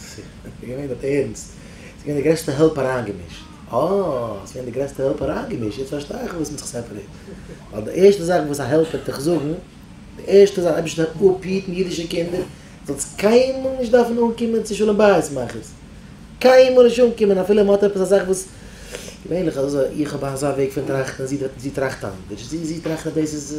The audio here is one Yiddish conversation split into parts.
ס'איז געווען דארט ערנסט? ס'איז געווען די גרעסטע העלפ אריינגעמישט. אה, ס'איז געווען די גרעסטע העלפ אריינגעמישט, יעצט פארשטיי איך פארוואס מ'האט זיך סעפערעיט. ווייל די ערשטע זאך וואס א העלפ וועט דיך זאגן, די ערשטע זאך, אייבירשטער הער אפ היטן אידישע קינדער, זאלסט קיינמאל נישט דארפן אנקומען צו שלום בית מאכערס. קיינמאל נישט אנקומען אפילו מ'האט עפעס א זאך וואס, געווענליך איז אזוי, איך האב אזא וועג פון טראכטן, זי טראכט אנדערש, זי טראכט אז דאס איז.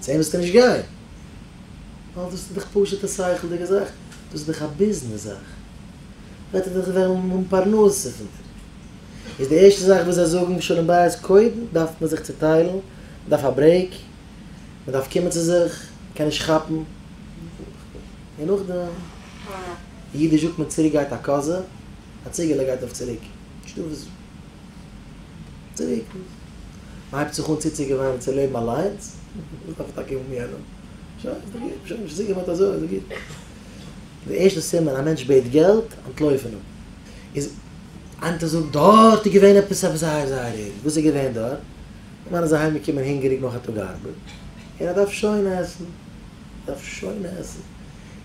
צו אים וועסטו נישט גיין, ווייל דאס איז דאך פשוט'ע שכל'דיגע זאך, דאס איז דאך א ביזנעס זאך, וועט ער דאך וועלן האבן פרנסה פון דעם, איז די ערשטע זאך וואס זיי זאגן שלום בית, קודם דארף מען זיך צוטיילן, מען דארף א ברעיק, מען דארף קומען צו זיך, מען קען נישט כאפן, און נאכדעם, אידיש זאגט מען צוריק גייט א קאזע, א ציגעלע גייט אויף צוריק, נישטא וואס. צוריק, מען הייבט זיך אן צוצוגעוואוינען צו לעבן אליינס, מען דארף טאקע האבן יענעם, שוין, איז דאך גוט, שוין האט מען זיך צוגעוואוינט אזוי, איז דאך גוט. די ערשטע סימן, א מענטש בעט געלט, אנטלויפן אים, איז איינער זאגט, דארט איז געווען עפעס עפעס זייער זייער ערגער, וואס איז געווען דארט? א מאן איז אהיים געקומען הונגעריג נאך א טאג ארבעט, און ער דארף שוין עסן, דארף שוין עסן,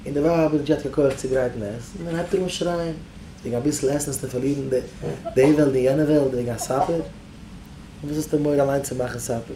און די ווייב האט נישט געהאט קיין כח צו גרייטן עסן, און הייבט ער אן שרייען, וועגן אביסל עסן האסטו פארלירן די וועלט און יענע וועלט וועגן א סאפער? פון וואס האסטו מורא אליין צו מאכן סאפער?